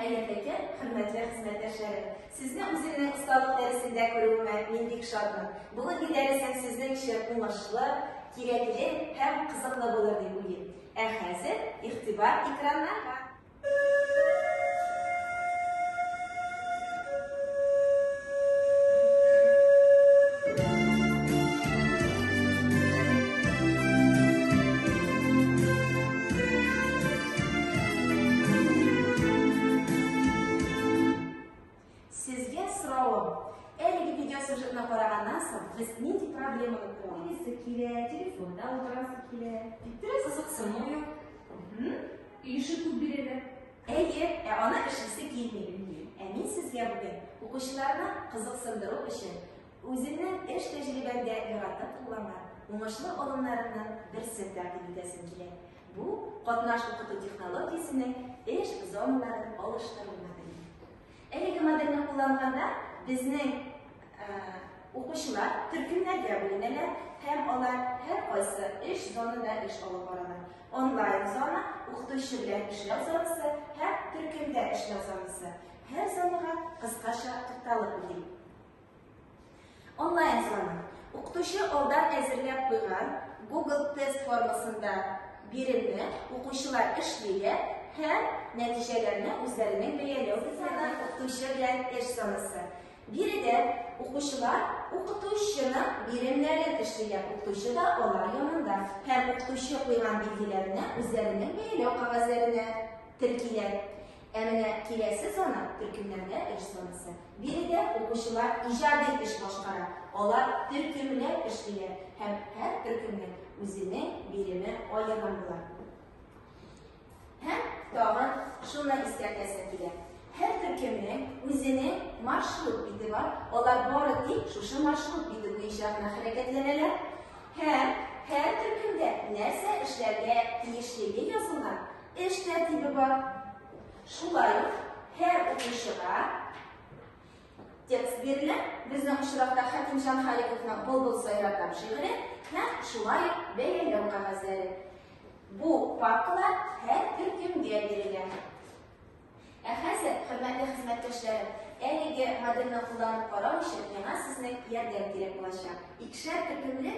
Хәерле көн, хөрмәтле хезмәттәшләрем! Сезне үземнең осталык дәресендә күрүемә мин бик шатмын. Бүгенге дәресем сезнең өчен уңышлы, кирәкле һәм кызыклы булыр дип уйлыйм. Ә хәзер игътибар экраннарга! Сезгә сорауым. Әлеге видеосюжетны караганнан соң, без нинди проблеманы күрәсе килә, телефонда утырасы килә, биттере кызыксыну юк. Ише күп бирәләр. Әйе, ә аны эшлисе килми. Ә мин сезгә бүген укучыларны кызыксындыру өчен үземнең эш тәҗрибәмдә яратып кулланган уңышлы алымнарымның берсен тәкъдим итәсем килә. Бу катнаш укыту технологиясенең эш зоналарын алыштыру модели. Әлеге модельне кулланганда безнең укучылар төркемнәргә бүленәләр һәм алар һәр кайсы эш зонада эш алып баралар. Онлайн зона, укытучы белән эшләү зонасы һәм төркемдә эшләү зонасы. Һәр зонага кыскача тукталып үтик. Онлайн сорама. Укытучы алдан әзерләп куйган Google тест формасында биремне укучылар эшлиләр һәм нәтиҗәләрне үзләренең бәяләү бетмәгән укытучы белән эш санасы. Биредә укучылар укытучының биремнәрен эшлиләр, укытучы да алар янында һәм укытучы куйган билгеләрне үзләренең бәяләү кагазьләренә теркиләр. Ә менә киләсе саны төркемнәрдә эш санасы. Биредә укучылар иҗади эш башкара, алар төркемләп эшлиләр һәм һәр төркемнең үзенең биреме аерым була. Һәм тагын шуны искәртәсем килә. Һәр төркемнең үзенең маршрут бите бар, алар бары тик шушы маршрут бите буенча гына хәрәкәтләнәләр һәм һәр төркемдә нәрсә эшләргә тиешлеге язылган Эш тәртибе бар. Шулай ук һәр укучыга текст бирелә. Безнең очракта Хәкимҗан Халиковның Былбыл сайраган шигыре һәм шулай ук бәяләү кәгазьләре. Бу папкалар һәр төркемгә бирелгән. Ә хәзер, хөрмәтле хезмәттәшләрем, әлеге модельне кулланып карау өчен миңа сезнең ярдәм кирәк булачак. Икешәр төркемле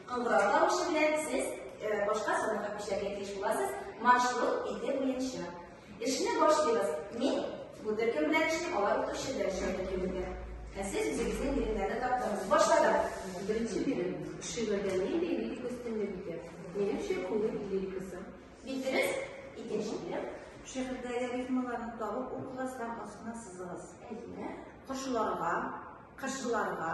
Кыңгырау тавышы белән сез башка санга күчәргә тиеш буласыз. Маршрут ике буенча. Эшне башлыйбыз. Мин бу төркем белән эшлим, алар укытучы белән эшли төркемендә. Ә сез үзегезнең биремнәрне таптыңыз. Башладым. Беренче бирем. Шигырьдә нинди лирик өстенлек итә? Минемчә, күңел лирикасы. Бик дөрес. Икенче бирем. Шигырьдәге рифмаларны табып укыгыз һәм астына сызыгыз. Әйе. Кошларга, кышларга,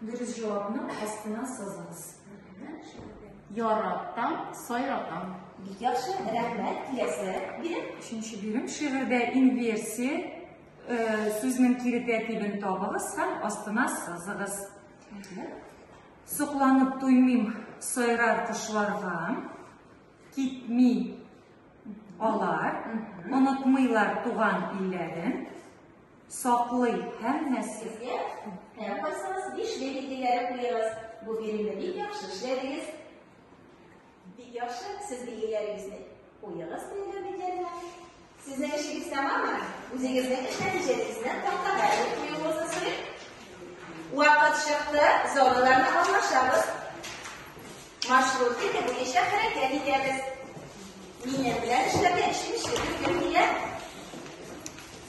Дөрес җавапны астына сызыгыз. Яратам, сайратам. Бик яхшы, рәхмәт, киләсе бирем. Өченче бирем шигырьдә инверсия э, сүзнең кире тәртибен табыгыз һәм астына сызыгыз. Сокланып туймыйм сайрар кошларга, китми алар, онытмыйлар туган илләрен, Саклый һәммәсе. Һәм кайсыгыз бишле билгеләре куегыз. Бу биремне бик яхшы эшләдегез. Бик яхшы сез билгеләрегезне куегыз белгән битләренә. Сезнең эшегез тәмаммы? Үзегезнең эш нәтиҗәләрегезне тактага язып куюыгызны сорыйм. Вакыт чыкты, зоналарны алмашабыз. Маршрут итеп буенча хәрәкәт итәбез. Минем белән эшләргә эшем эшләп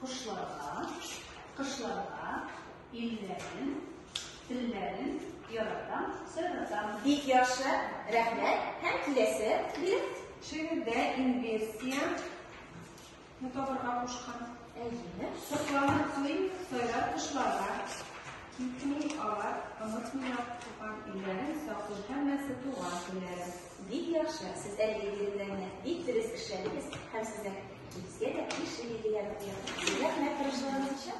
Кошларга, кышларга, илләрен, телләрен яратам, сайратам. Бик яхшы, рәхмәт. Һәм киләсе бир. Шигырьдә инверсия ну табырга кушкан. Әйеме? Сокланып кылыйм, сайрар кошларга. Китми алар, онытмыйлар туган илләрен, саклы һәммәсе туган телләрен. Бик яхшы, сез әлеге биремнәрне бик дөрес эшләдегез һәм сезнең Безгә дә биш ел дигән рәхмәт тырышлыгыгыз өчен.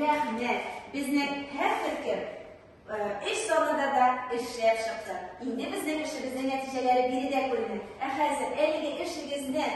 Рәхмәт. Безнең һәр төркем эш залында да эшләп чыкты. Инде безнең эшебезнең нәтиҗәләре биредә күренә. Ә хәзер әлеге эшегезнең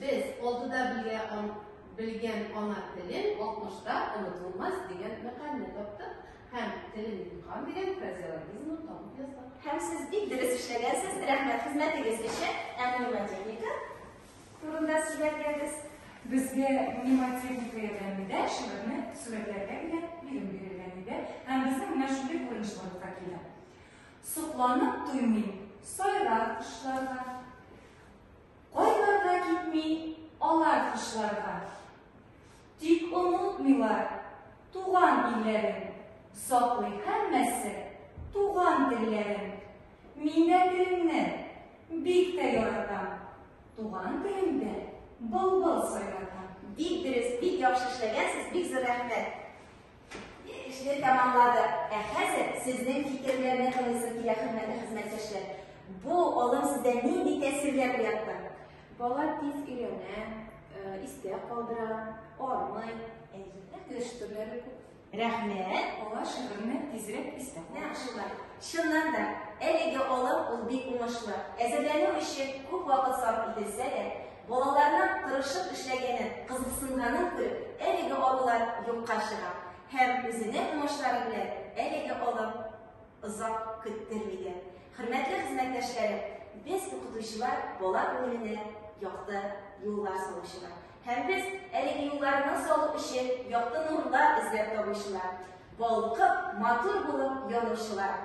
Без алдыда бирә белгән ана телен 60-та онытылмас дигән мәкальне таптык һәм телен юкам дигән фразеологизмны табып яздык. Һәм сез бик дөрес эшләгәнсез, рәхмәт хезмәтегез өчен, ә мнемотехника турында сөйләп бирдегез. Безгә мнемотехника ярдәмендә шигырьне сурәтләргә генә бирем бирелгән иде һәм безнең менә шундый күренеш барлыкка килә. Сокланып туймыйм, сайрар кошларга, Кайларга китми алар кышларга. Тик онытмыйлар туган илләрен, саклый һәммәсе туган телләрен. Мин дә телемне бик тә яратам, туган телемдә былбыл сайратам. Бик дөрес, бик яхшы эшләгәнсез, бик зур рәхмәт. Эшне тәмамладык. Ә хәзер сезнең фикерләрне тыңлыйсы килә, хөрмәтле хезмәттәшләр. Бу алым сездә нинди тәэсирләр уятты? Бала тиз өйрәнә, э, истә калдыра, армый, эш төрләре күп. Рәхмәт. Алар шигырьне тизрәк истә калдыра. Чыннан да, әлеге алым ул бик уңышлы. Әзерләнү өчен күп вакыт сарыф ителсә дә, Балаларның тырышып эшләгәнен, кызыксынганын күреп, әлеге алалар юкка чыга һәм үзенә уңышлары белән әлеге алым озак көттерми дә. Хөрмәтле хезмәттәшләрем, без укытучылар бала күңеленә якты юллар салучылар. Һәм без әлеге юлларны салу өчен якты нурлар эзләп табучылар. Балкып, матур булып янучылар.